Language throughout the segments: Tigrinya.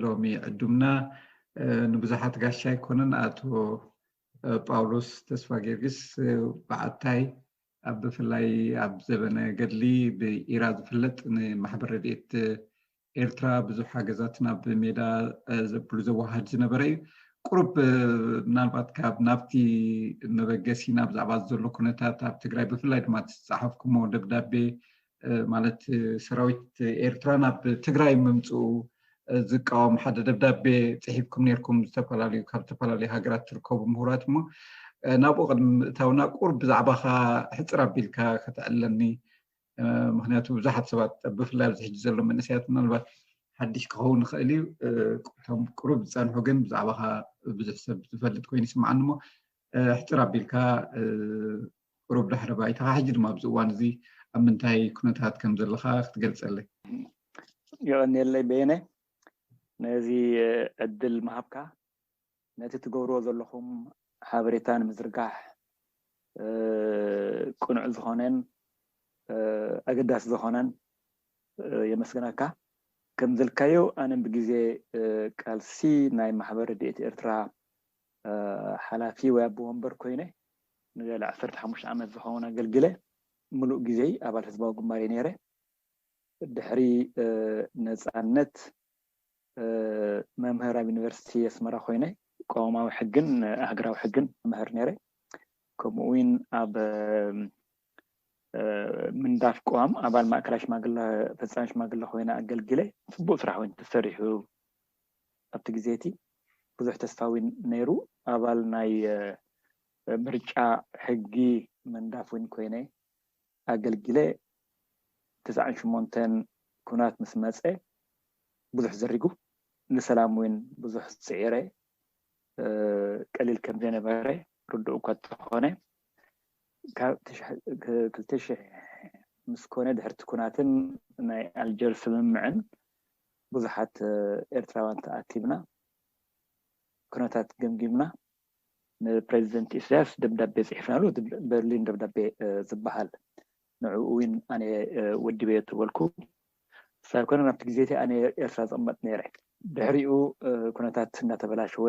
ሎሚ ዕዱምና ንብዙሓት ጋሻ ኣይኮነን ኣቶ ጳውሎስ ተስፋ ጊዮርጊስ በዓታይ ኣብ ብፍላይ ኣብ ዘበነ ገድሊ ብኢራ ዝፍለጥ ንማሕበር ረድኤት ኤርትራ ብዙሕ ሓገዛት ናብ ሜዳ ዘብሉ ዘዋሃድ ዝነበረ እዩ ቁሩብ ምናልባት ካብ ናብቲ መበገሲና ብዛዕባ ዘሎ ኩነታት ኣብ ትግራይ ብፍላይ ድማ ዝፀሓፍኩሞ ደብዳቤ ማለት ሰራዊት ኤርትራ ናብ ትግራይ ምምፅኡ ዝቃወም ሓደ ደብዳቤ ፅሒፍኩም ነርኩም ዝተፈላለዩ ካብ ዝተፈላለዩ ሃገራት ትርከቡ ምሁራት እሞ ናብኡ ቅድሚ ምእታውና ቁርብ ብዛዕባካ ሕፅር ኣቢልካ ከተዕለኒ ምክንያቱ ብዙሓት ሰባት ብፍላይ ኣብዚ ሕጂ ዘሎ መንእሰያት ምናልባት ሓድሽ ክኸውን ይኽእል እዩ እቶም ቅሩብ ዝፀንሑ ግን ብዛዕባካ ብዙሕ ሰብ ዝፈልጥ ኮይኑ ይስምዓኒ እሞ ሕጽር ኣቢልካ ቁሩብ ድሕረ ባይታኻ ሕጂ ድማ ኣብዚ እዋን እዚ ኣብ ምንታይ ኩነታት ከም ዘለኻ ክትገልጸለይ። የቐንየለይ በየነ ነዚ ዕድል ምሃብካ ነቲ ትገብርዎ ዘለኹም ሓበሬታ ንምዝርጋሕ ቅኑዕ ዝኾነን ኣገዳሲ ዝኾነን የመስግነካ። ከም ዝልካዮ ኣነ ብግዜ ቃልሲ ናይ ማሕበር ረድኤት ኤርትራ ሓላፊ ወይ ኣቦ ወንበር ኮይነ ንልዕሊ ዓሰርተ ሓሙሽተ ዓመት ዝኸውን ኣገልጊለ። ምሉእ ግዜይ ኣባል ህዝባዊ ግንባር እየ ነይረ። ድሕሪ ነጻነት መምህር ኣብ ዩኒቨርሲቲ ኣስመራ ኮይነ ቅዋማዊ ሕግን ሃገራዊ ሕግን እምህር ነይረ። ከምኡ'ውን ኣብ ምንዳፍ ቅዋም ኣባል ማእከላይ ሽማግለ ፈጻሚ ሽማግለ ኮይነ ኣገልጊለ። ጽቡቕ ስራሕ እውን ተሰሪሑ ኣብቲ ግዜ እቲ ብዙሕ ተስፋ ነይሩ ኣባል ናይ ምርጫ ሕጊ መንዳፍ እውን ኮይነ ኣገልጊለ ትስዓን ሸሞንተን ኩናት ምስ መጸ ብዙሕ ዘሪጉ ንሰላም እውን ብዙሕ ጽዒረ ቀሊል ከም ዘይነበረ ርዱእ እኳ እንተኾነ ካብ ክልተ ሽሕ ምስ ኮነ ድሕርቲ ኩናትን ናይ ኣልጀርስ ስምምዕን ብዙሓት ኤርትራውያን ተኣኪብና ኩነታት ገምጊምና ንፕረዚደንት ኢሳያስ ደብዳቤ ጽሒፍናሉ እቲ በርሊን ደብዳቤ ዝበሃል ንዕኡ እውን ኣነ ወዲበዮ ተበልኩ ሳብ ኮነ ናብቲ ግዜ እቲ ኣነ ኤርትራ ዝቕመጥ ነይረ ድሕሪኡ ኩነታት እንዳተበላሸወ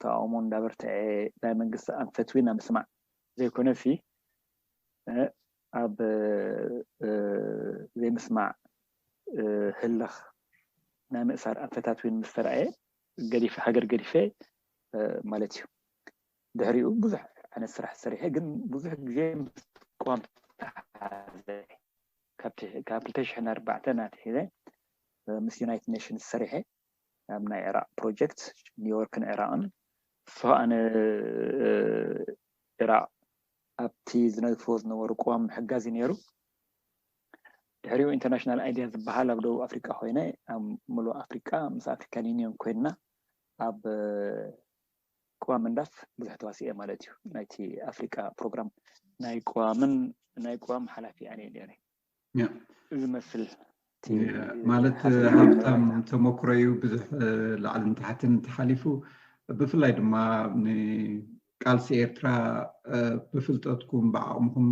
ተቃውሞ እንዳበርትዐ ናይ መንግስቲ ኣንፈት እውን ኣብ ምስማዕ ዘይኮነሲ ኣብ ዘይምስማዕ ህልኽ ናይ ምእሳር ኣንፈታት እውን ምስ ተራእየ ገዲፈ ሃገር ገዲፈ ማለት እዩ። ድሕሪኡ ብዙሕ ዓይነት ስራሕ ሰሪሐ ግን ብዙሕ ግዜ ምስ ቅዋም ተተሓሓዘ ካብ ክልተ ሽሕን ኣርባዕተን ኣትሒዘ ምስ ዩናይትድ ኔሽንስ ሰሪሐ። ናብ ናይ ዒራቕ ፕሮጀክት ኒውዮርክን ዒራቕን ሰውኣነ ዒራቕ ኣብቲ ዝነድፍዎ ዝነበሩ ቅዋም ምሕጋዝ እዩ ነይሩ። ድሕሪኡ ኢንተርናሽናል ኣይዲያ ዝበሃል ኣብ ደቡብ ኣፍሪቃ ኮይነ ኣብ ምሉእ ኣፍሪቃ ምስ ኣፍሪካን ዩኒዮን ኮይንና ኣብ ቅዋም ምንዳፍ ብዙሕ ተዋሲኤ ማለት እዩ። ናይቲ ኣፍሪቃ ፕሮግራም ናይ ቅዋምን ናይ ቅዋም ሓላፊ ኣነ ነይረ። ዝመስል ማለት ሃብታም ተመክሮ እዩ ብዙሕ ላዕልን ታሕትን ተሓሊፉ ብፍላይ ድማ ቃልሲ ኤርትራ ብፍልጠትኩም ብዓቕምኹም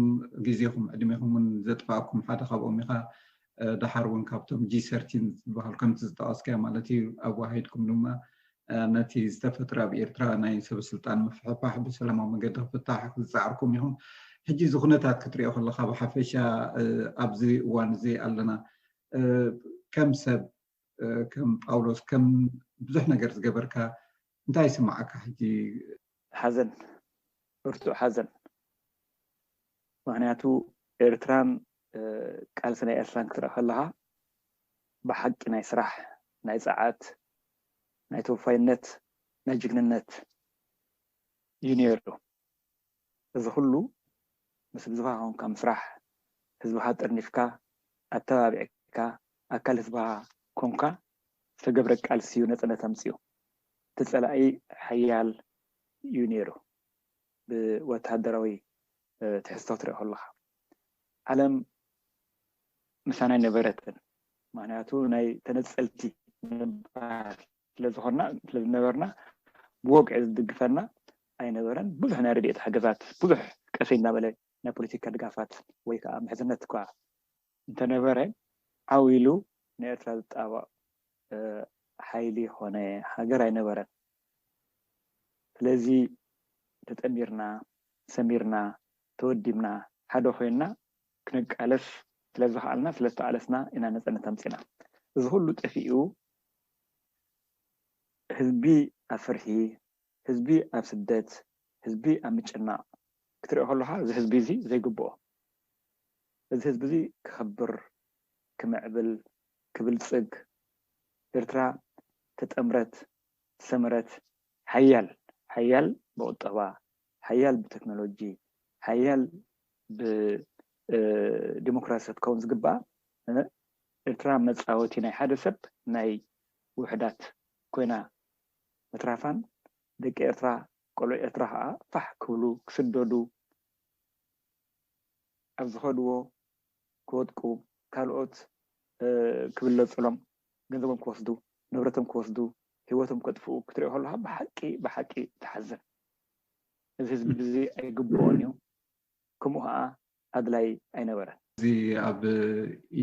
ግዜኹም ዕድሜኹም እውን ዘጥፋእኩም ሓደ ካብኦም ኢኻ ድሓር እውን ካብቶም ጂ ሰርቲን ዝበሃል ከምቲ ዝጠቐስካዮ ማለት እዩ ኣዋሂድኩም ድማ ነቲ ዝተፈጥረ ኣብ ኤርትራ ናይ ሰበስልጣን ምፍሕፋሕ ብሰላማዊ መገዲ ክፍታሕ ዝጸዓርኩም ኢኹም። ሕጂ እዚ ኩነታት ክትሪኦ ከለኻ ብሓፈሻ ኣብዚ እዋን እዚ ኣለና ከም ሰብ ከም ጳውሎስ ከም ብዙሕ ነገር ዝገበርካ እንታይ ይስምዓካ ሕጂ? ሓዘን ብርቱዕ ሓዘን ምኽንያቱ ኤርትራን ቃልሲ ናይ ኤርትራን ክትርኢ ከለኻ ብሓቂ ናይ ስራሕ ናይ ጸዓት ናይ ተወፋይነት ናይ ጅግንነት እዩ ነይሩ። እዚ ኩሉ ምስ ህዝብኻ ኮንካ ምስራሕ፣ ህዝብኻ ጠርኒፍካ፣ ኣተባቢዕካ፣ ኣካል ህዝብኻ ኮንካ ዝተገብረ ቃልሲ እዩ ነፃነት ኣምፂኡ። እቲ ፀላኢ ሓያል እዩ ነይሩ ብወታደራዊ ትሕዝቶ ትሪኦ ከለኻ ዓለም ምሳና ኣይነበረትን ምኽንያቱ ናይ ተነፀልቲ ንባር ስለ ዝኾንና ስለ ዝነበርና ብወግዒ ዝድግፈና ኣይነበረን ብዙሕ ናይ ረድኤት ሓገዛት ብዙሕ ቀሰይ እናበለ ናይ ፖለቲካ ድጋፋት ወይ ከዓ ምሕዝነት እኳ እንተነበረ ዓው ኢሉ ንኤርትራ ዝጣበቕ ሓይሊ ኮነ ሃገር ኣይነበረን። ስለዚ ተጠሚርና፣ ሰሚርና፣ ተወዲብና፣ ሓደ ኮይንና ክንቃለስ ስለ ዝኸኣልና ስለ ዝተቓለስና ኢና ነጻነት ኣምጺእና። እዚ ኩሉ ጠፊኡ ህዝቢ ኣብ ፍርሒ፣ ህዝቢ ኣብ ስደት ህዝቢ ኣብ ምጭናቕ ክትሪኦ ከሎኻ እዚ ህዝቢ እዚ ዘይግብኦ እዚ ህዝቢ እዚ ክኸብር ክምዕብል ክብልጽግ ኤርትራ ዝተጠምረት ዝሰመረት ሓያል ሓያል ብቑጠባ ሓያል ብተክኖሎጂ ሓያል ብዲሞክራሲ ክትከውን ዝግብኣ ኤርትራ መጻወቲ ናይ ሓደ ሰብ ናይ ውሑዳት ኮይና ምትራፋን ደቂ ኤርትራ ቆልዑ ኤርትራ ከኣ ፋሕ ክብሉ ክስደዱ ኣብ ዝኸድዎ ክወድቁ ካልኦት ክብለጹሎም ገንዘቦም ክወስዱ ንብረቶም ክወስዱ ሂወቶም ከጥፍኡ ክትሪኦ ከለኻ ብሓቂ ብሓቂ ትሓዝን እዚ ህዝቢ እዚ ኣይግብኦን እዩ ከምኡ ከኣ ኣድላይ ኣይነበረን። እዚ ኣብ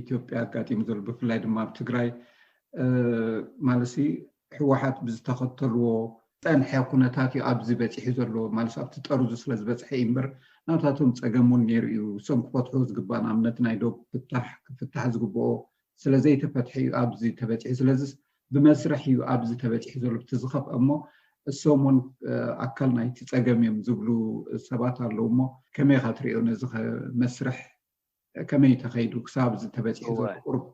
ኢትዮጵያ ኣጋጢሙ ዘሎ ብፍላይ ድማ ኣብ ትግራይ ማለትሲ ህወሓት ብዝተኸተልዎ ዝፀንሐ ኩነታት እዩ ኣብዚ በፂሑ ዘሎ ማለት ኣብቲ ጠርዙ ስለ ዝበፅሐ እዩ እምበር ናታቶም ፀገም እውን ነይሩ እዩ። እሶም ክፈትሕዎ ዝግባእ ንኣብነት ናይ ዶብ ፍታሕ ክፍታሕ ዝግበኦ ስለ ዘይተፈትሐ እዩ ኣብዚ ተበፂሑ ስለዚ ብመስርሕ እዩ ኣብዚ ተበፂሑ ዘሎ እቲ ዝኸፍአ እሞ እሶም እውን ኣካል ናይቲ ፀገም እዮም ዝብሉ ሰባት ኣለዉ እሞ ከመይ ኢኻ ትሪኦ ነዚ መስርሕ ከመይ እዩ ተኸይዱ ክሳብ እዚ ተበፂሑ ዘሎ ቁርብ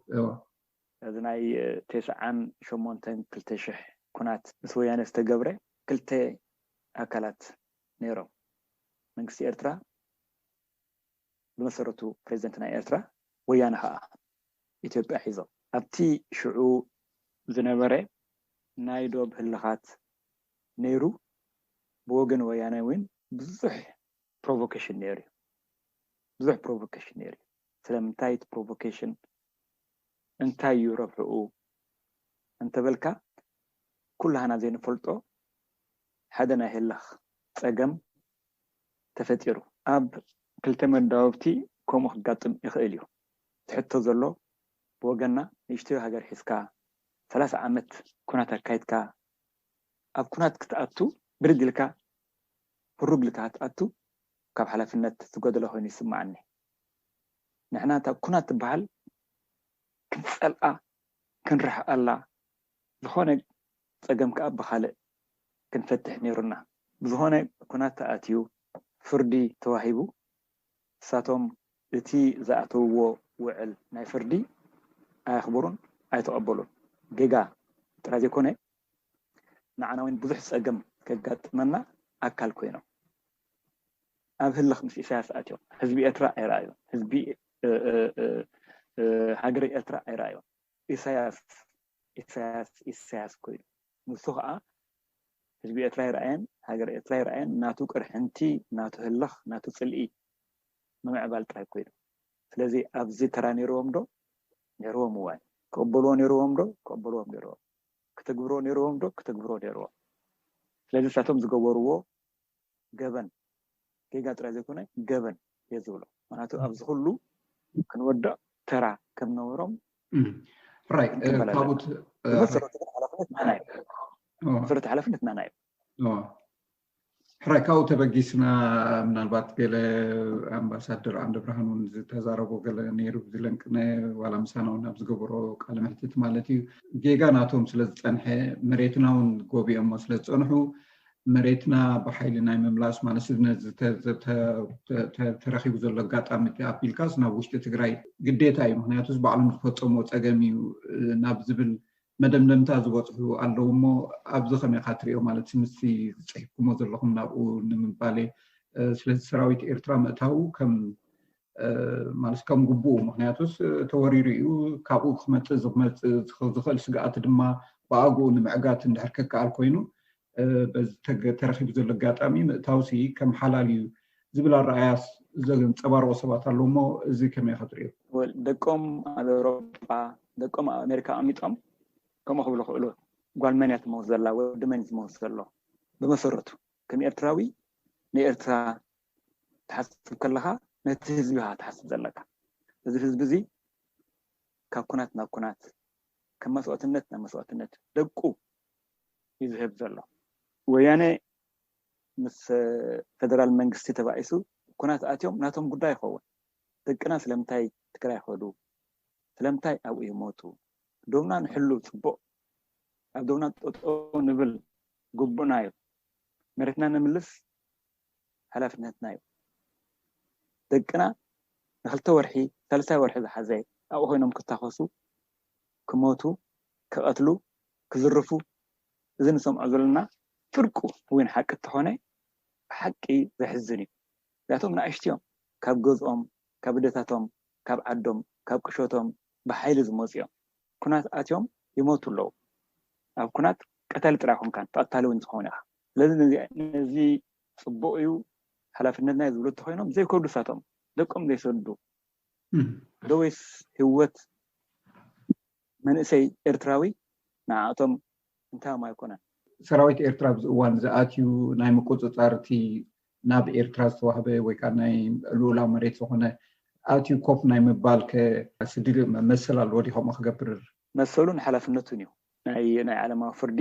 እዚ ናይ ቴስዓን ሸሞንተን ክልተ ሽሕ ኩናት ምስ ወያነ ዝተገብረ ክልተ ኣካላት ነይሮም መንግስቲ ኤርትራ፣ ብመሰረቱ ፕረዚደንት ናይ ኤርትራ፣ ወያነ ከኣ ኢትዮጵያ ሒዞም። ኣብቲ ሽዑ ዝነበረ ናይ ዶብ ህልኻት ነይሩ፣ ብወገን ወያነ ውን ብዙሕ ፕሮቮኬሽን ነይሩ'ዩ። ብዙሕ ፕሮቮኬሽን ነይሩ'ዩ። ስለምንታይ እቲ ፕሮቮኬሽን እንታይ'ዩ ረብሕኡ እንተበልካ፣ ኩላህና ዘይንፈልጦ ሓደ ናይ ህልኽ ጸገም ተፈጢሩ። ኣብ ክልተ መዳውብቲ ከምኡ ክጋጥም ይኽእል እዩ። እቲ ሕቶ ዘሎ ብወገንና ንእሽቶይ ሃገር ሒዝካ ሰላሳ ዓመት ኩናት ኣካይድካ ኣብ ኩናት ክትኣቱ ብርግ ኢልካ ህሩግ ኢልካ ክትኣቱ ካብ ሓላፍነት ዝጎደለ ኮይኑ ይስማዓኒ። ንሕና እታ ኩናት ትባሃል ክንጸልኣ ክንርሕቐላ ዝኾነ ጸገም ከኣ ብኻልእ ክንፈትሕ ኔሩና። ብዝኾነ ኩናት ተኣትዩ ፍርዲ ተዋሂቡ ንሳቶም እቲ ዝኣተውዎ ውዕል ናይ ፍርዲ ኣየኽበሩን ኣይተቐበሉን። ጌጋ ጥራይ ዘይኮነ ንዓናውን ብዙሕ ጸገም ከጋጥመና ኣካል ኮይኖም። ኣብ ህልኽ ምስ ኢሳያስ ኣትዮም ህዝቢ ኤርትራ ኣይረኣዩን። ህዝቢ ሃገረ ኤርትራ ኣይረኣዩን። ኢሳያስ ኢሳያስ ኢሳያስ ኮይኑ ንሱ ከኣ ህዝቢ ኤርትራ ኣይረኣየን ሃገር ኤርትራ ኣይረኣየን ናቱ ቅርሕንቲ ናቱ ህልኽ ናቱ ጽልኢ ምምዕባል ጥራይ ኮይኑ ስለዚ ኣብዚ ተራ ኔርዎም ዶ ኔርዎም እዋይ ክቕበልዎ ኔርዎም ዶ ክቕበልዎም ኔርዎም ክትግብሮ ኔርዎም ዶ ክትግብሮ ኔርዎም ስለዚ ንሳቶም ዝገበርዎ ገበን ጌጋ ጥራይ ዘይኮነ ገበን እየ ዝብሎ ምክንያቱ ኣብዚ ኩሉ ክንወድቅ ተራ ከምነበሮም ክንቅበል ኣለና መሰረታዊ ሓላፍነት ናና እዩ ሕራይ ካብኡ ተበጊስና ምናልባት ገለ ኣምባሳደር ዓንደብርሃን እውን ዝተዛረቦ ገለ ነይሩ ዝለንቅነ ዋላ ምሳና እውን ኣብ ዝገበሮ ቃለ መሕትት ማለት እዩ ጌጋ ናቶም ስለ ዝፀንሐ መሬትና እውን ጎቢኦሞ ስለ ዝፀንሑ መሬትና ብሓይሊ ናይ ምምላስ ማለስነት ዝተረኪቡ ዘሎ ኣጋጣሚ ኣቢልካስ ናብ ውሽጢ ትግራይ ግዴታ እዩ ምክንያቱስ ባዕሎም ዝፈፀምዎ ፀገም እዩ ናብ ዝብል መደምደምታ ዝበፅሑ ኣለዉ እሞ ኣብዚ ከመይ ካ ትሪኦ ማለት ምስቲ ዝፅሒፍኩሞ ዘለኹም ናብኡ ንምባሌ ስለዚ ሰራዊት ኤርትራ ምእታዉ ከም ማለት ከም ግቡኡ ምክንያቱስ ተወሪሩ እዩ ካብኡ ክመፅእ ዝመፅእ ዝኽእል ስግኣት ድማ ብኣግኡ ንምዕጋት እንድሕር ከከኣል ኮይኑ በዚ ተረኺቡ ዘሎ ኣጋጣሚ ምእታውሲ ከም ሓላል እዩ ዝብል ኣረኣያ ዘንፀባርቑ ሰባት ኣለዉ እሞ እዚ ከመይ ኢኻ ትሪኦ? ደቆም ኣብ ኤውሮጳ ደቆም ኣብ ኣሜሪካ ኣቐሚጦም ከምኡ ክብሉ ክእሉ ጓል መን እያ ትመውት ዘላ ወዲ መን እዩ ትመውት ዘሎ ብመሰረቱ ከም ኤርትራዊ ንኤርትራ ክትሓስብ ከለኻ ነቲ ህዝቢ ኢኻ ትሓስብ ዘለካ። እዚ ህዝቢ እዚ ካብ ኩናት ናብ ኩናት፣ ካብ መስዋእትነት ናብ መስዋእትነት ደቁ እዩ ዝህብ ዘሎ። ወያነ ምስ ፈደራል መንግስቲ ተባኢሱ ኩናት ኣትዮም ናቶም ጉዳይ ይኸውን። ደቅና ስለምንታይ ትግራይ ከዱ? ስለምንታይ ኣብኡ ይሞቱ? ዶብና ንሕሉ ፅቡቕ፣ ኣብ ዶብና ጠጠው ንብል ግቡእና እዩ፣ መሬትና ነምልስ፣ ሓላፍነትና እዩ። ደቅና ንክልተ ወርሒ ሳልሳይ ወርሒ ዝሓዘ ኣብኡ ኮይኖም ክታኾሱ፣ ክሞቱ፣ ክቐትሉ፣ ክዝርፉ እዚ ንሰምዖ ዘሎና ፍርቁ እውን ሓቂ እንተኾነ ብሓቂ ዘሕዝን እዩ። ምክንያቱ ናእሽቱ እዮም ካብ ገዝኦም፣ ካብ ኣደታቶም፣ ካብ ዓዶም፣ ካብ ቁሸቶም ብሓይሊ ዝመጹ እዮም። ኩናት ኣትዮም ይሞቱ ኣለዉ። ኣብ ኩናት ቀታሊ ጥራይ ኣይኮንካን ተቐታሊ እውን ትኸውን ኢኻ። ስለዚ ነዚ ጽቡቕ እዩ ሓላፍነትና እዩ ዝብሉ እንተኾይኖም ዘይከዱ ሳቶም ደቆም ዘይሰዱ ዶ ወይስ ህይወት መንእሰይ ኤርትራዊ ንዓኣቶም እንታዮም ኣይኮነን። ሰራዊት ኤርትራ ኣብዚ እዋን እዚ ኣትዩ ናይ ምቁጽጻር እቲ ናብ ኤርትራ ዝተዋህበ ወይ ከኣ ናይ ልኡላዊ መሬት ዝኾነ ኣትዩ ኮፍ ናይ ምባል ከ ስዲ መሰል ኣለዎ ድዩ ከምኡ ክገብር? መሰሉን ሓላፍነቱን እዩ ናይ ናይ ዓለማዊ ፍርዲ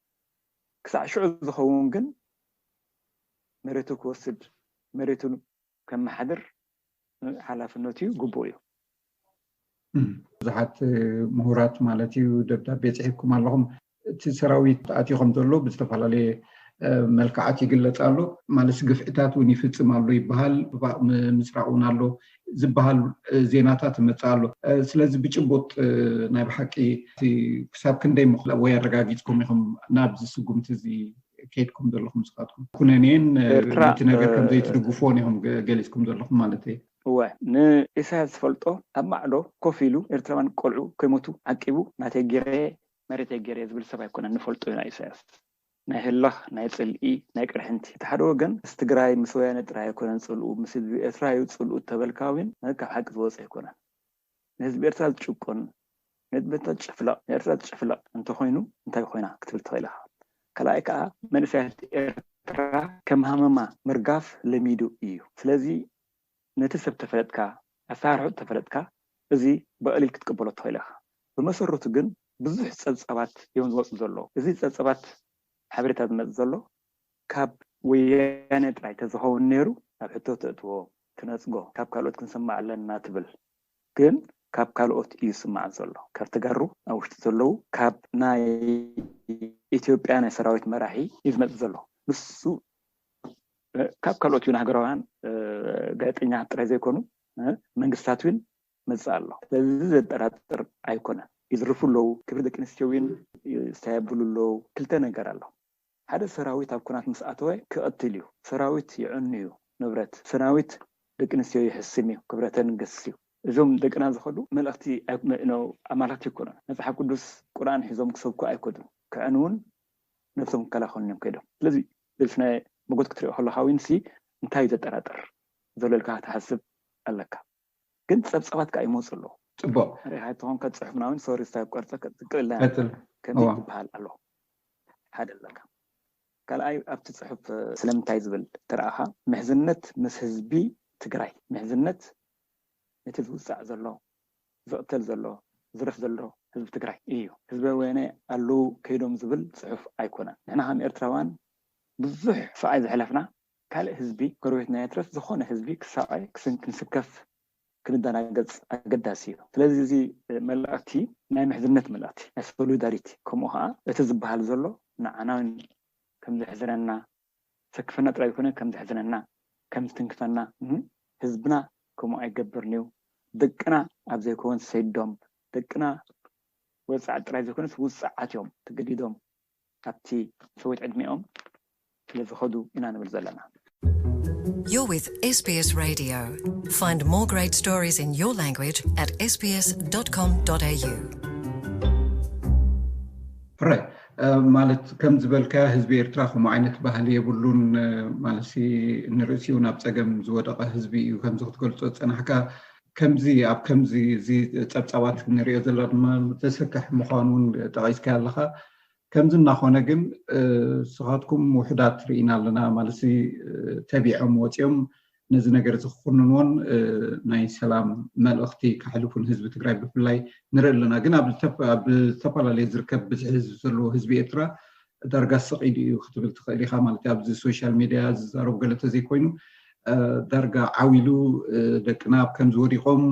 ክሳዕ ሽዑ ዝኸውን ግን መሬቱ ክወስድ መሬቱ ከመሓድር ሓላፍነቱ እዩ ግቡእ እዩ። ብዙሓት ምሁራት ማለት እዩ ደብዳቤ ፅሒፍኩም ኣለኹም እቲ ሰራዊት ኣትዩ ከም ዘሎ ብዝተፈላለየ መልክዓት ይግለፅ ኣሎ ማለት ግፍዕታት እውን ይፍፅም ኣሎ ይበሃል ምፅራቅ እውን ኣሎ ዝብሃል ዜናታት ይመፅእ ኣሎ። ስለዚ ብጭቡጥ ናይ ብሓቂ ክሳብ ክንደይ ምኽላ ወይ ኣረጋጊፅኩም ኢኹም ናብዚ ስጉምቲ እዚ ከይድኩም ዘለኹም ስኻትኩም ኩነኔን እቲ ነገር ከምዘይትድግፍዎን ኢኹም ገሊፅኩም ዘለኹም ማለት እየ። እወ ንኢሳያስ ዝፈልጦ ኣብ ማዕዶ ኮፍ ኢሉ ኤርትራውያን ቆልዑ ከይሞቱ ዓቂቡ ናተይ ጌረ መሬተይ ጌረ ዝብል ሰብ ኣይኮነን ንፈልጦ ኢና ኢሳያስ ናይ ህላኽ ናይ ጽልኢ ናይ ቅርሕንቲ እቲ ሓደ ወገን ምስ ትግራይ ምስ ወያነ ጥራይ ኣይኮነን ጽልኡ ምስ ህዝቢ ኤርትራ ዩ ጽልኡ እተበልካ ዊን ማለት ካብ ሓቂ ዝወጸ ኣይኮነን ንህዝቢ ኤርትራ ዝጭቁን ንህዝቢ ኤርትራ ዝጭፍለቕ ንኤርትራ ዝጭፍለቕ እንተኾይኑ እንታይ ኮይና ክትብል ትኽእል ኢኻ ካልኣይ ከኣ መንእሰያት ኤርትራ ከም ሃመማ ምርጋፍ ለሚዱ ኢዩ ስለዚ ነቲ ሰብ ተፈለጥካ፣ ኣሰራርሕኡ ተፈለጥካ፣ እዚ ብቐሊል ክትቅበሎ ትኽእል ኢኻ። ብመሰረቱ ግን ብዙሕ ጸብጻባት እዮም ዝወጹ ዘለዉ። እዚ ጸብጻባት ሓበሬታ ዝመጽእ ዘሎ ካብ ወያነ ጥራይ ተዝኸውን ነይሩ ኣብ ሕቶ ተእትዎ፣ ትነጽጎ፣ ካብ ካልኦት ክንሰምዕ ኣለና ትብል ግን ካብ ካልኦት እዩ ዝስማዕ ዘሎ። ካብ ተጋሩ ኣብ ውሽጢ ዘለዉ ካብ ናይ ኢትዮጵያ ናይ ሰራዊት መራሒ እዩ ዝመጽእ ዘሎ። ንሱ ካብ ካልኦት ውን ሃገራውያን ጋዜጠኛታት ጥራይ ዘይኮኑ መንግስታት ውን መጽእ ኣሎ ስለዚ ዘጠራጥር ኣይኮነን ይዝርፉ ኣለው ክብሪ ደቂ ኣንስትዮ ውን ይስታይ ኣብሉ ኣለው ክልተ ነገር ኣሎ ሓደ ሰራዊት ኣብ ኩናት ምስ ኣተወ ክቅትል እዩ ሰራዊት ይዕኑ እዩ ንብረት ሰራዊት ደቂ ኣንስትዮ ይሕስም እዩ ክብረተን ይገስስ እዩ እዞም ደቅና ዝከዱ መለክቲ ኣማለክቲ ኣይኮኑን መጽሓፍ ቅዱስ ቁርኣን ሒዞም ክሰብኩ ኣይከዱን ክዕንውን ነብሶም ክከላከሉን እዮም ከይዶም ስለዚ ብስነ መጎት ክትሪኦ ከለካ ውን ሲ እንታይ እዩ ዘጠራጥር ዘሎ ኢልካ ክትሓስብ ኣለካ ግን ጸብጻባት ከኣ ይመጹ ኣለዉ። ጽቡቅ። ሪኢካ እንተኮንካ ጽሑፍና ውን ሶሪ ስታይል ክቆርጸ ክቅልለይ ኣሎ ከምዚ ክበሃል ኣለዎ ሓደ ኣለካ ካልኣይ ኣብቲ ጽሑፍ ስለምንታይ ዝብል ተረኣካ ምሕዝነት ምስ ህዝቢ ትግራይ ምሕዝነት ነቲ ዝውጻዕ ዘሎ ዝቅተል ዘሎ ዝዝረፍ ዘሎ ህዝቢ ትግራይ እዩ ህዝበ ወያነ ኣለው ከይዶም ዝብል ፅሑፍ ኣይኮነን ንሕና ከም ኤርትራውያን ብዙሕ ስቃይ ዘሕለፍና ካልእ ህዝቢ ጎረቤትና የትረፍ ዝኮነ ህዝቢ ክሳቀ ክንስከፍ ክንዳናገፅ ኣገዳሲ እዩ ስለዚ እዚ መልእክቲ ናይ ምሕዝነት መልእክቲ ናይ ሶሉዳሪቲ ከምኡ ከኣ እቲ ዝባሃል ዘሎ ንዓናውን ከምዘሕዝነና ዘሰክፈና ጥራይ ዘይኮነ ከም ዘሕዝነና ከም ዝትንክፈና ን ህዝብና ከምኡ ኣይገብርንዩ ደቅና ኣብ ዘይከውን ሰይዶም ደቅና ወጻዕት ጥራይ ዘይኮነስ ውጹዓትዮም ተገዲዶም ኣብቲ ሰውት ዕድሜኦም ስለ ዝከዱ ኢና ንብል ዘለና። You're with SBS Radio. Find more great stories in your language at sbs.com.au. ሕራይ ማለት ከም ዝበልካዮ ህዝቢ ኤርትራ ከምኡ ዓይነት ባህሊ የብሉን ማለት ንርእሲ እውን ኣብ ፀገም ዝወደቐ ህዝቢ እዩ ከምዚ ክትገልፆ ዝፀናሕካ ከምዚ ኣብ ከምዚ እዚ ፀብፃባት ንሪኦ ዘለና ድማ ዘስክሕ ምዃኑ እውን ጠቒስካዮ ኣለኻ ከምዚ እናኾነ ግን ስኻትኩም ውሕዳት ርኢና ኣለና ማለት ተቢዖም ወፂኦም ነዚ ነገር እዚ ክኹንንዎን ናይ ሰላም መልእኽቲ ከሕልፉ ንህዝቢ ትግራይ ብፍላይ ንርኢ ኣለና ግን ኣብ ዝተፈላለየ ዝርከብ ብዝሒ ህዝቢ ዘለዎ ህዝቢ ኤርትራ ዳርጋ ስቕ ኢሉ እዩ ክትብል ትኽእል ኢኻ ማለት እዩ ኣብዚ ሶሻል ሚድያ ዝዛረቡ ገለ ተዘይኮይኑ ዳርጋ ዓው ኢሉ ደቅና ኣብ ከምዚ ወዲቖም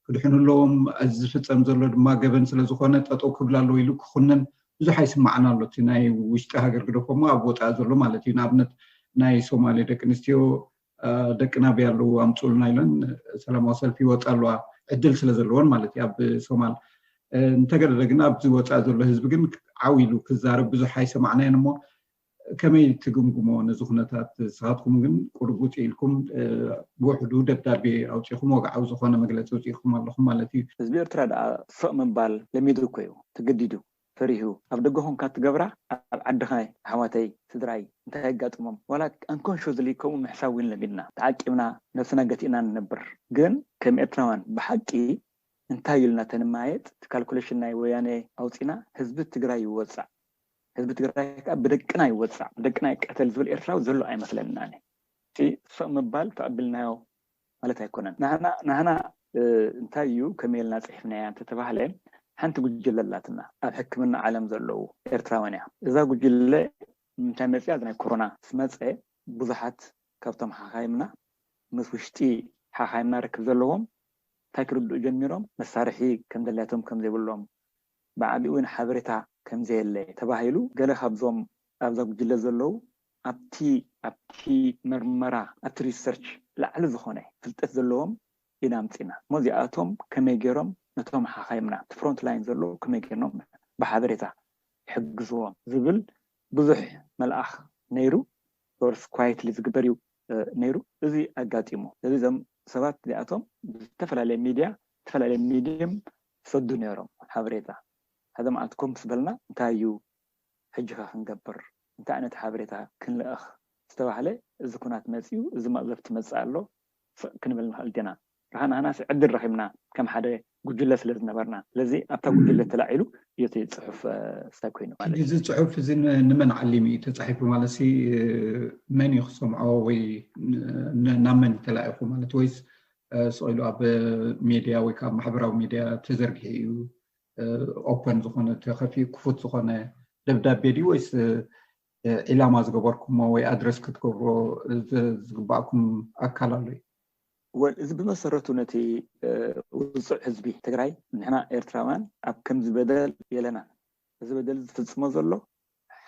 ክድሕኑ ኣለዎም እዚ ዝፍፀም ዘሎ ድማ ገበን ስለ ዝኾነ ጠጠው ክብል ኣለዎ ኢሉ ክኹንን ብዙሕ ኣይስማዕን ኣሎ እቲ ናይ ውሽጢ ሃገር ግደፎ እሞ ኣብ ወጻኢ ዘሎ ማለት እዩ ንኣብነት ናይ ሶማሌ ደቂ ኣንስትዮ ደቅና ኣበይ ኣለዉ ኣምጹኡልና ኢለን ሰላማዊ ሰልፊ ይወጻ ኣለዋ ዕድል ስለ ዘለወን ማለት እዩ ኣብ ሶማል እንተገደደ ግን ኣብዚ ወጻኢ ዘሎ ህዝቢ ግን ዓው ኢሉ ክዛረብ ብዙሕ ኣይሰማዕናዮን እሞ ከመይ ትግምግሞ ነዚ ኩነታት? ንስኻትኩም ግን ቁሩብ ውጽእ ኢልኩም ብውሕዱ ደብዳቤ ኣውጺእኹም ወግዓዊ ዝኾነ መግለጺ ኣውጺእኩም ኣለኹም ማለት እዩ። ህዝቢ ኤርትራ ደኣ ፍቕ ምባል ለሚዱ እኮ እዩ ተገዲዱ ፈሪሁ ኣብ ደገ ኮንካ እትገብራ ኣብ ዓድኻ ኣሕዋተይ ስድራይ እንታይ የጋጥሞም ዋላ ኣንኮንሾዝሊ ከምኡ ምሕሳብ ውን ለሚድና ተዓቂብና ነብስና ገቲእና ንነብር ግን ከም ኤርትራውያን ብሓቂ እንታይ ኢልና ተንመያየጥ እቲ ካልኩለሽን ናይ ወያኔ ኣውጺእና ህዝቢ ትግራይ ይወጻዕ ህዝቢ ትግራይ ከኣ ብደቅና ይወጻዕ ብደቅና ይቀተል ዝብል ኤርትራዊ ዘሎ ኣይመስለናን እዩ። እቲ ሶእ ምባል ተቐቢልናዮ ማለት ኣይኮነን። ናህና ናህና እንታይ እዩ ከመይ ኢልና ጽሒፍናያ እንተተባህለ ሓንቲ ጉጅለ ኣላትና ኣብ ሕክምና ዓለም ዘለዉ ኤርትራውያን እያ። እዛ ጉጅለ ንምንታይ መጺኣ እዚ ናይ ኮሮና ምስ መጸ ብዙሓት ካብቶም ሓኻይምና ምስ ውሽጢ ሓኻይምና ርክብ ዘለዎም እንታይ ክርድኡ ጀሚሮም መሳርሒ ከም ዘድልያቶም ከም ዘይብሎም ብዓቢኡውን ሓበሬታ ከም ዘየለ ተባሂሉ ገለ ካብዞም ኣብዛ ጉጅለ ዘለዉ ኣብቲ ኣብቲ መርመራ ኣብቲ ሪሰርች ላዕሊ ዝኾነ ፍልጠት ዘለዎም ኢና ኣምጺእና እሞ እዚኣቶም ከመይ ጌሮም ነቶም ሓኻይምና ኣብቲ ፍሮንት ላይን ዘለዉ ከመይ ጌርኖም ብሓበሬታ ይሕግዝዎም ዝብል ብዙሕ መልኣኽ ነይሩ ኦርስ ኳይትሊ ዝግበር እዩ ነይሩ እዚ ኣጋጢሙ እዚ እዞም ሰባት እዚኣቶም ብዝተፈላለየ ሚድያ ዝተፈላለየ ሚድየም ይሰዱ ኔሮም ሓበሬታ ሓደ መዓልቲ ኮፍ ምስ በልና እንታይ እዩ ሕጂኸ ክንገብር እንታይ ዓይነት ሓበሬታ ክንልእኽ ምስ ተባህለ እዚ ኩናት መጺኡ እዚ መቕዘፍቲ መጽእ ኣሎ ስቕ ክንብል ንኽእል ዲና ርሃ ናህናስ ዕድል ረኺብና ከም ሓደ ጉጅለ ስለ ዝነበርና ስለዚ ኣብታ ጉጅለ ተላዒሉ እዩ እቲ ጽሑፍ ስታይ ኮይኑ ማለት እዩ። ሕጂ እዚ ጽሑፍ እዚ ንመን ዓሊሙ እዩ ተጻሒፉ ማለትሲ መን እዩ ክሰምዖ ወይ ናብ መን እዩ ተላኢኹ ማለት ወይስ ስቕ ኢሉ ኣብ ሜድያ ወይ ከዓ ማሕበራዊ ሜድያ ተዘርጊሑ እዩ ኦፐን ዝኾነ ተኸፊኡ ክፉት ዝኾነ ደብዳቤ ድዩ ወይስ ዒላማ ዝገበርኩሞ ወይ ኣድረስ ክትገብሮ ዝግባእኩም ኣካል ኣሎ እዩ እዚ ብመሰረቱ ነቲ ውፅዕ ህዝቢ ትግራይ ንሕና ኤርትራውያን ኣብ ከምዚ በደል የለና እዚ በደል ዝፍፅሞ ዘሎ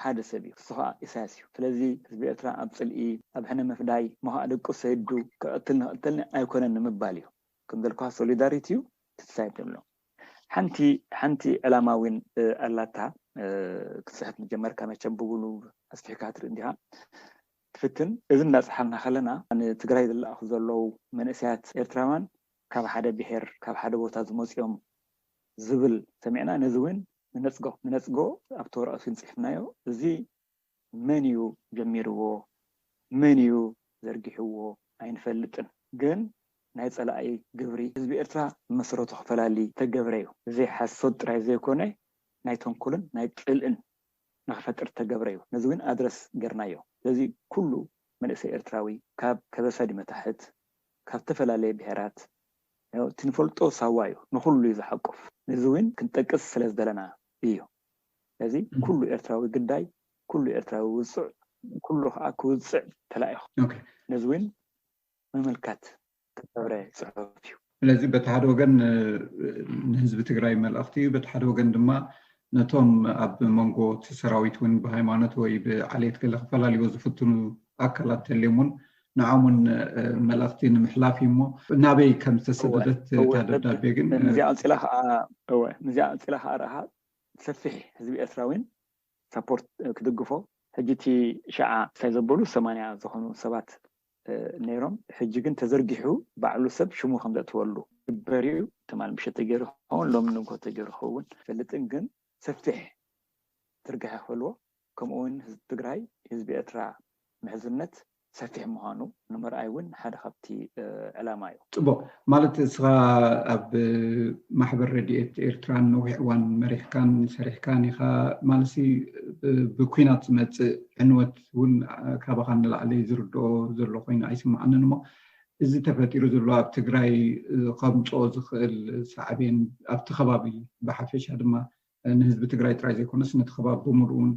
ሓደ ሰብ እዩ እሱ ከኣ ኢሳያስ እዩ ስለዚ ህዝቢ ኤርትራ ኣብ ጽልኢ ኣብ ሕነ ምፍዳይ እሞ ከኣ ደቁ ሰይዱ ክቅትል ንክቅተልኒ ኣይኮነን ንምባል እዩ ከም ዘልኩካ ሶሊዳሪቲ እዩ ትንሳኤ ተብሎ ሓንቲ ሓንቲ ዕላማ ዊን ኣላታ ክትጽሕፍ ምጀመርካ መቸም ብጉሉብ ኣስፊሕካ ክትርኢ እንዲካ ትፍትን እዚ እንዳ ጸሓፍና ከለና ንትግራይ ዝላኣኩ ዘሎው መንእሰያት ኤርትራውያን ካብ ሓደ ብሄር ካብ ሓደ ቦታ ዝመጹ እዮም ዝብል ሰሚዕና ነዚ ዊን ንነጽጎ ንነጽጎ ኣብቲ ወረቐት ግን ጽሒፍናዮ እዚ መን ኢዩ ጀሚርዎ መን ኢዩ ዘርጊሕዎ ኣይንፈልጥን ግን ናይ ጸላኢ ግብሪ ህዝቢ ኤርትራ ብመሰረቱ ክፈላሊ ዝተገብረ ኢዩ እዚ ሓሶት ጥራይ ዘይኮነ ናይ ተንኮልን ናይ ጽልእን ንኽፈጥር ዝተገብረ ኢዩ ነዚ ግን ኣድረስ ጌርናዮ ስለዚ ኩሉ መንእሰይ ኤርትራዊ ካብ ከበሳ ዲመታሕት ካብ ዝተፈላለየ ብሄራት እቲ ንፈልጦ ሳዋ እዩ ንኹሉ እዩ ዝሓቁፍ ነዚ ውን ክንጠቅስ ስለ ዝደለና እዩ ስለዚ ኩሉ ኤርትራዊ ግዳይ ኩሉ ኤርትራዊ ውጹዕ ኩሉ ከኣ ክውጽዕ ተላኢኹ ነዚ ውን ምምልካት ክገብረ ጽሑፍ እዩ። ስለዚ በቲ ሓደ ወገን ንህዝቢ ትግራይ መልእኽቲ እዩ በቲ ሓደ ወገን ድማ ነቶም ኣብ መንጎ እቲ ሰራዊት እውን ብሃይማኖት ወይ ብዓሌት ገለ ክፈላልይዎ ዝፍትኑ ኣካላት ተልዮም እውን ንዖም እውን መልእኽቲ ንምሕላፍ እዩ እሞ ናበይ ከም ዝተሰደደት እታ ደብዳቤ ግን ምስዚኣ ቀፂላ ከዓ እወ ምስዚኣ ቀፂላ ከዓ ረሃብ ሰፊሕ ህዝቢ ኤርትራ እውን ሳፖርት ክድግፎ ሕጂ እቲ ሸዓ እንታይ ዘበሉ ሰማንያ ዝኾኑ ሰባት ነይሮም ሕጂ ግን ተዘርጊሑ ባዕሉ ሰብ ሽሙ ከም ዘእትወሉ ግበር እዩ ትማል ምሸት ተገይሩ ክኸውን ሎሚ ንግሆ ተገይሩ ክኸውን ኣይፈልጥን ግን ሰፊሕ ትርጋሐ ክፈልዎ ከምኡ እውን ህዝቢ ትግራይ ህዝቢ ኤርትራ ምሕዝነት ሰፊሕ ምዃኑ ንምርኣይ እውን ሓደ ካብቲ ዕላማ እዩ። ጽቡቕ ማለት እስኻ ኣብ ማሕበር ረድኤት ኤርትራን ነዊሕ እዋን መሪሕካን ሰሪሕካን ኢኻ ማለሲ ብኲናት ዝመጽእ ዕንወት ቃላት ውን ካባኻ ንላዕሊ ዝርድኦ ዘሎ ኮይኑ ኣይስመዓንን እሞ እዚ ተፈጢሩ ዘሎ ኣብ ትግራይ ኸምፅኦ ዝኽእል ሳዕቤን ኣብቲ ኸባቢ ብሓፈሻ ድማ ንህዝቢ ትግራይ ጥራይ ዘይኮነስ ነቲ ኸባቢ ብሙሉኡ ውን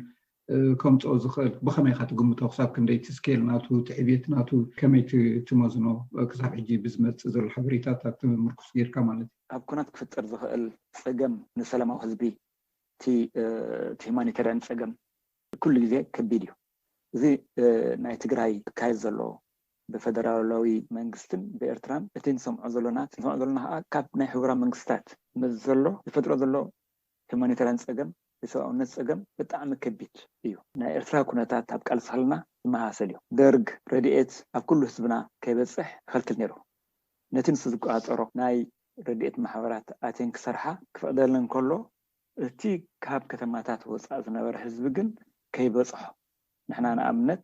ከምፅኦ ዝኽእል ብኸመይ ኢኻ ትግምቶ ክሳብ ክንደይ እቲ ስኬል ናቱ እቲ ዕብየት ናቱ ከመይ ትመዝኖ ክሳብ ሕጂ ብዝመፅእ ዘሎ ሓበሬታታት ምርኩስ ጌርካ ማለት እዩ። ኣብ ኩናት ክፍጠር ዝኽእል ፀገም ንሰላማዊ ህዝቢ እቲ ሂማኒተርያን ፀገም ኩሉ ግዜ ከቢድ እዩ። እዚ ናይ ትግራይ ዝካየድ ዘሎ ብፈደራላዊ መንግስትን ብኤርትራን እቲ ንሰምዖ ዘሎና ንሰምዖ ዘሎና ከኣ ካብ ናይ ሕቡራ መንግስታት ምስ ዘሎ ዝፈጥሮ ዘሎ ሂማኒታርያን ጸገም የሰብኣውነት ጸገም ብጣዕሚ ከቢድ እዩ። ናይ ኤርትራ ኩነታት ኣብ ቃልሲ ከለና ዝመሳሰል እዩ። ደርግ ረድኤት ኣብ ኩሉ ህዝብና ከይበጽሕ ይኸልክል ነይሩ። ነቲ ንሱ ዝቆጻጸሮ ናይ ረድኤት ማሕበራት ኣትየን ክሰርሓ ክፈቅደለን ከሎ እቲ ካብ ከተማታት ወጻእ ዝነበረ ህዝቢ ግን ከይበጽሖ፣ ንሕና ንኣብነት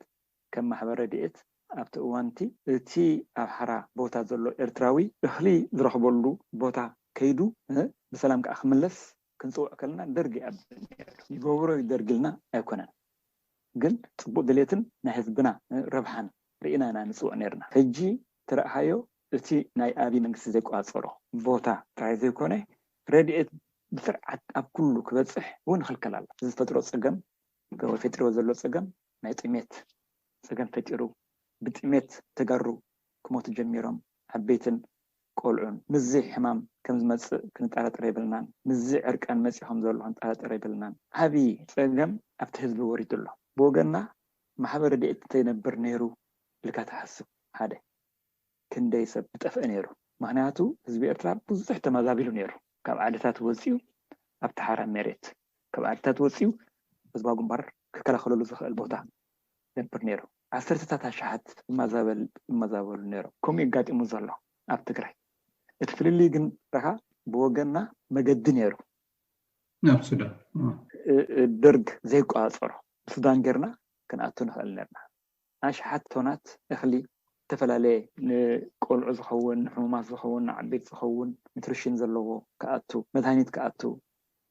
ከም ማሕበር ረድኤት ኣብቲ እዋን'ቲ፣ እቲ ኣብ ሓራ ቦታ ዘሎ ኤርትራዊ እኽሊ ዝረኽበሉ ቦታ ከይዱ ብሰላም ከኣ ክምለስ ክንጽውዕ ከለና ደርጊ ይኣቢ ነይሩ። ይገብሮ እዩ ደርጊ ኢልና ኣይኮነን ግን ጽቡቕ ድሌትን ናይ ህዝብና ረብሓን ርኢና ኢና ንጽውዕ ነይርና። ሕጂ እንተረኣኻዮ እቲ ናይ ኣብይ መንግስቲ ዘይቆፃፀሮ ቦታ ጥራይ ዘይኮነ ረድኤት ብስርዓት ኣብ ኩሉ ክበፅሕ እውን ይኽልከል ኣሎ። እዚ ዝፈጥሮ ፀገም ወይ ፈጢርዎ ዘሎ ፀገም ናይ ጥሜት ፀገም ፈጢሩ ብጥሜት ተጋሩ ክሞቱ ጀሚሮም ዓበይትን ቆልዑን። ምስዚ ሕማም ከም ዝመፅእ ክንጠራጠር የብልናን። ምስዚ ዕርቃን መፂኡ ከም ዘሎ ክንጠራጠር የብልናን። ዓብይ ፀገም ኣብቲ ህዝቢ ወሪዱ ኣሎ። ብወገንና ማሕበር ረድኤት እንተይነብር ነይሩ ኢልካ ትሓስብ ሓደ። ክንደይ ሰብ ምጠፍኤ ነይሩ ምክንያቱ ህዝቢ ኤርትራ ብዙሕ ተመዛቢሉ ነይሩ ካብ ዓድታት ወጽዩ ኣብቲ ሓራ ሜሬት ካብ ዓድታት ወጽዩ ህዝባዊ ግንባር ክከላከለሉ ዝክእል ቦታ ይነብር ነይሩ ዓሰርተታት ኣሻሓት ይማዛበል ይመዛበሉ ነይሮም ከምኡ እዩ ኣጋጢሙ ዘሎ ኣብ ትግራይ እቲ ፍልልይ ግን ደካ ብወገንና መገዲ ነይሩ ናብ ሱዳን ደርግ ዘይቋጻጸሮ ብሱዳን ገርና ክንኣቱ ንክእል ነርና። ኣሽሓት ቶናት እኽሊ ዝተፈላለየ ንቆልዑ ዝኸውን፣ ንሕሙማት ዝኸውን፣ ንዓበይቲ ዝኸውን ኑትሪሽን ዘለዎ ክኣቱ፣ መድሃኒት ክኣቱ፣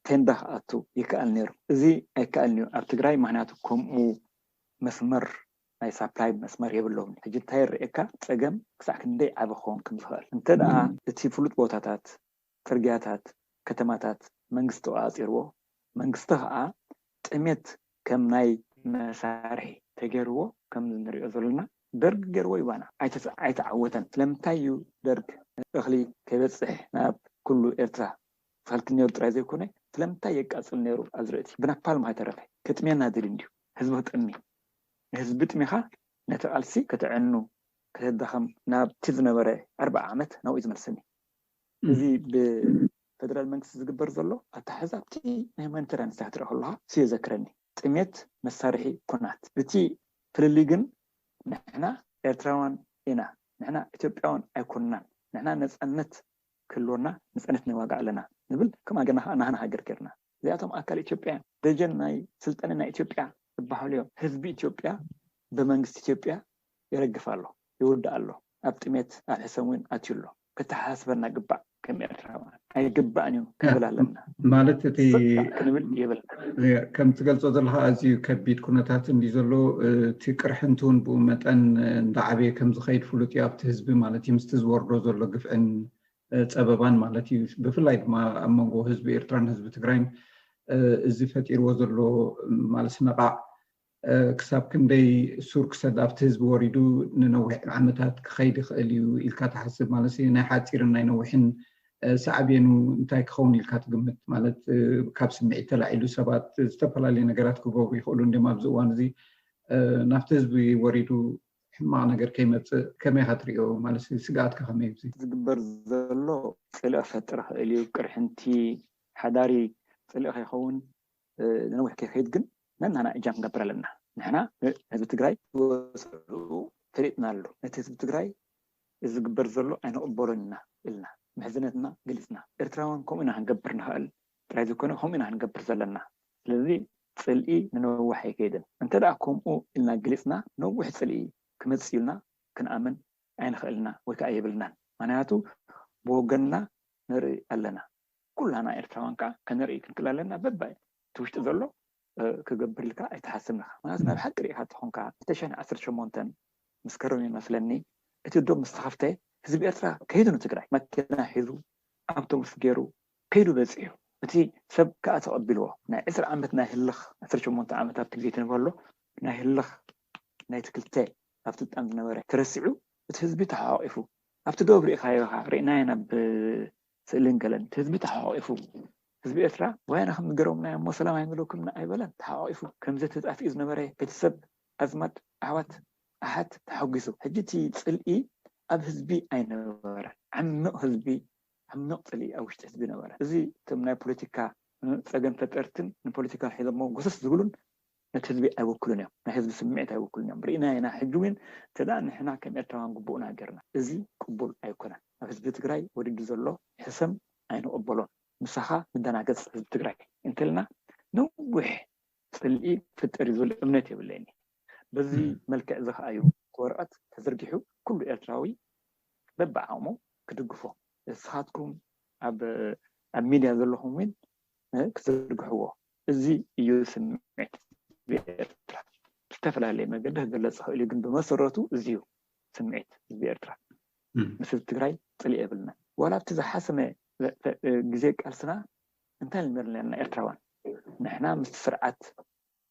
ቴንዳ ክኣቱ ይከኣል ነይሩ። እዚ ኣይከኣልን'ዩ ኣብ ትግራይ ምኽንያቱ ከምኡ መስመር ናይ ሳፕላይ መስመር የብሎምን። ሕጂ እንታይ ይረኣየካ ጸገም ክሳዕ ክንደይ ዓቢ ክኸውን ከም ዝኽእል እንተድኣ እቲ ፍሉጥ ቦታታት፣ ጽርግያታት ከተማታት መንግስቲ ተቖጻጺርዎ፣ መንግስቲ ከኣ ጥሜት ከም ናይ መሳርሒ ተገርዎ ከምዚ ንሪኦ ዘሎና ደርግ ገርዎ ዩ ባና ኣይተዓወተን ስለምንታይ ዩ ደርግ እኽሊ ከይበጽሕ ናብ ኩሉ ኤርትራ ዝኸልክል ኔሩ ጥራይ ዘይኮነ ስለምንታይ የቃጽል ኔሩ ኣዝርእቲ ብናፓልም ሃይተረፈ ከጥምየና ደልዩ እንድዩ ህዝቢ ክጠሚ ንህዝቢ ጥሚኻ ነቲ ቃልሲ ከተዕኑ ከተዳኸም ናብቲ ዝነበረ ኣርብዓ ዓመት ናብኡ ዩ ዝመልሰኒ እዚ ብፈደራል መንግስቲ ዝግበር ዘሎ ኣተሓሕዛ ኣብቲ ናይ ሁማኒተርያን ስራሕ ትርኣ ከለኻ እሱ የዘክረኒ። ጥሜት መሳርሒ ኩናት። እቲ ፍልልይ ግን ንሕና ኤርትራውያን ኢና፣ ንሕና ኢትዮጵያውያን ኣይኮናን፣ ንሕና ነጻነት ክህልወና ነጻነት ንዋጋእ ኣለና ንብል ከም ኣገናኻ ናህና ሃገር ጌርና። እዚኣቶም ኣካል ኢትዮጵያ እዮም። ደጀን ናይ ስልጠነ ናይ ኢትዮጵያ ዝበሃሉ እዮም። ህዝቢ ኢትዮጵያ ብመንግስቲ ኢትዮጵያ ይረግፍ ኣሎ፣ ይውዳእ ኣሎ፣ ኣብ ጥሜት ኣብ ሕሰም እውን ኣትዩ ኣሎ። ከተሓሳስበና ግባእ ከም ኤርትራውያን። ኣይግባእን እዩ ክንብል ኣለና። ማለት እቲ በቃ ክንብል የብልና። ከም ትገልጾ ዘለኻ ኣዝዩ ከቢድ ኩነታት እንድዩ ዘሎ። እቲ ቅርሕንቲ እውን ብኡ መጠን እንዳዓበየ ከም ዝኸይድ ፍሉጥ እዩ ኣብቲ ህዝቢ ማለት እዩ። ምስቲ ዝወርዶ ዘሎ ግፍዕን ፀበባን ማለት እዩ። ብፍላይ ድማ ኣብ መንጎ ህዝቢ ኤርትራን ህዝቢ ትግራይን እዚ ፈጢርዎ ዘሎ ማለት ስነቓዕ ክሳብ ክንደይ ሱር ክሰድ ኣብቲ ህዝቢ ወሪዱ ንነዊሕ ዓመታት ክኸይድ ይኽእል እዩ ኢልካ ትሓስብ? ማለት ናይ ሓፂርን ናይ ነዊሕን ሳዕቤኑ እንታይ ክኸውን ኢልካ ትግምት? ማለት ካብ ስምዒት ተላዒሉ ሰባት ዝተፈላለዩ ነገራት ክገብሩ ይኽእሉ እንድዮም ኣብዚ እዋን እዚ ናብቲ ህዝቢ ወሪዱ ሕማቅ ነገር ከይመፅእ ከመይ ኢካ ትሪኦ ማለት ስግኣትካ ከመይ እዩ እዚ። ዝግበር ዘሎ ፅልኢ ክፈጥር ይክእል እዩ ቅርሕንቲ ሓዳሪ ፅልኢ ከይከውን ንነዊሕ ከይከይድ ግን ነናና እጃም ክንገብር ኣለና ንሕና ህዝቢ ትግራይ ወፅዕኡ ፈሊጥና ኣሎ ነቲ ህዝቢ ትግራይ እዚ ዝግበር ዘሎ ኣይንቅበሎን ኢና እልና ምሕዝነትና ገሊፅና ኤርትራውያን ከምኡ ኢና ክንገብር ንክእል ጥራይ ዘይኮነ ከምኡ ኢና ንገብር ዘለና ስለዚ ጽልኢ ንነዋሕ ኣይከይድን እንተ ከምኡ ኢልና ገሊጽና ነዊሕ ጽልኢ ክመጽእ እዩልና ክንኣምን ኣይንክእልን ኢና ወይ ከኣ የብልናን ምክንያቱ ብወገንና ንርኢ ኣለና ኩላና ኤርትራውያን ከኣ ከነርኢ ክንክል ኣለና በቢ እቲ ውሽጢ ዘሎ ክገብርልካ ኣይትሓስብን ኢኻ ምኽንያቱ ናይ ብሓቂ ሪኢኻ ተኾንካ ክልተ ሽሕን ዓሰርተ ሸሞንተን መስከረም እዩ መስለኒ እቲ ዶብ ምስ ተኸፍተ ህዝቢ ኤርትራ ከይዱ ንትግራይ መኪና ሒዙ ኣብቶቡስ ጌሩ ከይዱ በጺሑ እቲ ሰብ ክኣ ተቐቢልዎ ናይ ዕስራ ዓመት ናይ ህልኽ ዓሰርተ ሸሞንተ ዓመት ኣብቲ ግዜ ትንበሎ ናይ ህልኽ ናይቲ ክልተ ኣብ ስልጣን ዝነበረ ተረሲዑ እቲ ህዝቢ ተሓቛቒፉ ኣብቲ ዶብ ሪኢኻዮ ኢኻ ሪእናዮ ናብ ስእልን ገለን ህዝቢ ተሓቋቒፉ ህዝቢ ኤርትራ ወያነ ከም ዝገረሙና እሞ ሰላም ኣይምለኩምና ኣይበለን ተሓቋቒፉ ከምዘ ተጣፊኡ ዝነበረ ቤተሰብ ኣዝማድ ኣሕዋት ኣሓት ተሓጒሱ ሕጂ እቲ ጽልኢ ኣብ ህዝቢ ኣይነበረን ዓሚቕ ህዝቢ ዓሚቕ ጽልኢ ኣብ ውሽጢ ህዝቢ ነበረ እዚ እቶም ናይ ፖለቲካ ጸገም ፈጠርትን ንፖለቲካ ሒዞሞ ጎሰስ ዝብሉን ነቲ ህዝቢ ኣይውክሉን እዮም ናይ ህዝቢ ስምዒት ኣይውክሉን እዮም ርኢናዮ ኢና ሕጂ ዊን እንተድኣ ንሕና ከም ኤርትራውያን ግቡእና ጌርና እዚ ቅቡል ኣይኮነን ኣብ ህዝቢ ትግራይ ወሪዱ ዘሎ ሕሰም ኣይንቕበሎን ምሳኻ ንደናገጽ ህዝቢ ትግራይ እንተልና ነዊሕ ጽልኢ ክፍጠር እዩ ዝብል እምነት የብለይን በዚ መልክዕ እዚ ከኣ እዩ እቲ ወረቐት ተዘርጊሑ ኩሉ ኤርትራዊ በብዓቕሙ ክድግፎ እስኻትኩም ኣብ ኣብ ሚድያ ዘለኹም ዊን ክትዝርግሕዎ እዚ እዩ ስምዒት ህዝቢ ኤርትራ። ብዝተፈላለየ መገዲ ክግለጽ ይኽእል እዩ ግን ብመሰረቱ እዚ እዩ ስምዒት ህዝቢ ኤርትራ። ምስ ህዝቢ ትግራይ ጽልኢ የብልናን። ዋላ ኣብቲ ዝሓሰመ ግዜ ቃልስና እንታይ ኢልና ነይርና ነርና ኤርትራውያን ንሕና ምስቲ ስርዓት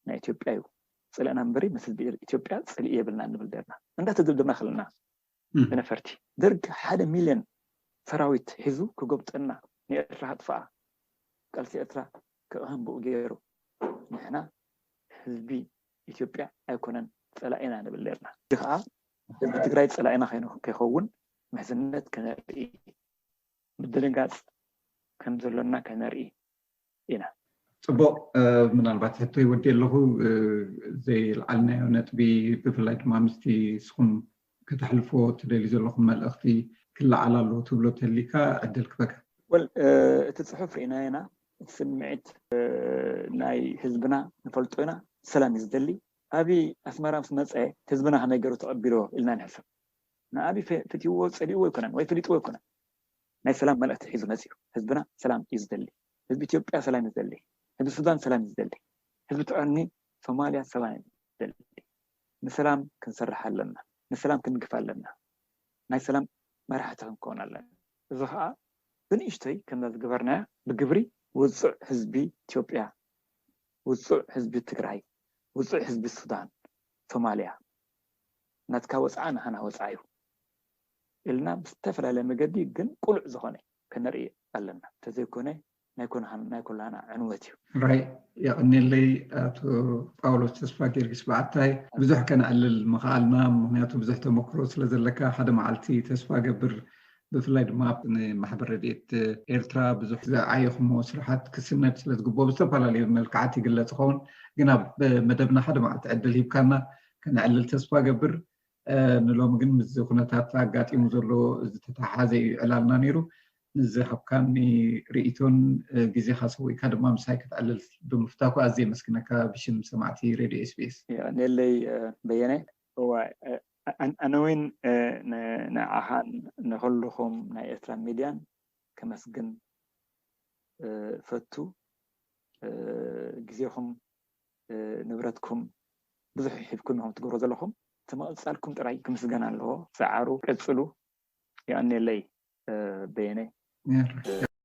ናይ ኢትዮጵያ እዩ ጽልእና እምበሪ ምስ ህዝቢ ኢትዮጵያ ጽልኢ የብልናን ንብል ነርና። እንዳተደብደብና ከለና ብነፈርቲ። ደርግ ሓደ ሚልዮን ሰራዊት ሒዙ ክጎብጠና ንኤርትራ ከጥፍኣ ቃልሲ ኤርትራ ክቕህምብኡ ጌሩ ንሕና ህዝቢ ኢትዮጵያ ኣይኮነን ጸላኢና ንብል ኔርና ሕጂ ከኣ ህዝቢ ትግራይ ጸላኢና ከይከውን ምሕዝነት ከነርኢ ምድንጋጽ ከምዘሎና ከነርኢ ኢና። ፅቡቅ ምናልባት ሕቶ ይወዲ ኣለኹ ዘይልዓልናዮ ነጥቢ ብፍላይ ድማ ምስቲ ንስኹም ከተሕልፎ ትደልዩ ዘለኹም መልእኽቲ ክለዓል ኣለዎ ትብሎ ተሊካ ዕድል ክበካ። ወል እቲ ፅሑፍ ርኢናዮ ኢና ስምዒት ናይ ህዝብና ንፈልጦ ኢና ሰላም እዩ ዝደሊ ኣብይ ኣስመራ ምስ መፀ ህዝብና ከመይ ገሩ ተቀቢልዎ ኢልና ንሕሰብ ንኣብይ ፈትይዎ ፀሊእዎ ኣይኮነን ወይ ፈሊጥዎ ኣይኮነን ናይ ሰላም መልእኽቲ ሒዙ መፂኡ። ህዝብና ሰላም እዩ ዝደሊ። ህዝቢ ኢትዮጵያ ሰላም እዩ ዝደሊ። ህዝቢ ሱዳን ሰላም እዩ ዝደሊ። ህዝቢ ትዕርኒ ሶማሊያ ሰላም እዩ ዝደሊ። ንሰላም ክንሰርሕ ኣለና። ንሰላም ክንግፍ ኣለና። ናይ ሰላም መራሕቲ ክንከውን ኣለና። እዚ ኸዓ ብንእሽተይ ከምዛ ዝገበርናያ ብግብሪ ውፁዕ ህዝቢ ኢትዮጵያ፣ ውፁዕ ህዝቢ ትግራይ፣ ውፁዕ ህዝቢ ሱዳን፣ ሶማሊያ ናትካ ወፅዓ ናሃና ወፅዓ እዩ። ኢልና ብዝተፈላለየ መገዲ ግን ቅሉዕ ዝኾነ ከነርኢ ኣለና። እንተዘይኮነ ናይ ኩላህና ዕንወት እዩ። ሕራይ የቐኔለይ ኣቶ ጳውሎስ ተስፋጊዮርጊስ በዓታይ ብዙሕ ከነዕልል ምኸኣልና ምኽንያቱ ብዙሕ ተመክሮ ስለ ዘለካ ሓደ መዓልቲ ተስፋ እገብር ብፍላይ ድማ ንማሕበር ረድኤት ኤርትራ ብዙሕ ዝዓየኹሞ ስራሓት ክስነድ ስለ ዝግብኦ ብዝተፈላለዩ መልክዓት ይግለጽ ይኸውን ግን ኣብ መደብና ሓደ መዓልቲ ዕድል ሂብካና ከነዕልል ተስፋ እገብር ንሎሚ ግን ምስዚ ኩነታት ኣጋጢሙ ዘሎ ዝተተሓሓዘ እዩ ዕላልና ነይሩ። ንዝሃብካኒ ርእይቶን ግዜኻ ሰዊእካ ድማ ምሳይ ክትዕልል ብምፍታኩ ኣዝየ የመስግነካ ብሽም ሰማዕቲ ሬድዮ ኤስቢኤስ። የቀንየለይ በየነ። እዋይ ኣነ ውን ንዓኻን ንኹሉኹም ናይ ኤርትራ ሚድያን ከመስግን እፈቱ ግዜኹም ንብረትኩም ብዙሕ ሒብኩም ኢኹም ትገብርዎ ዘለኹም እቲ ምቕጻልኩም ጥራይ ክምስገን ኣለዎ ጻዓሩ ቀጽሉ የቐኔለይ በየነ።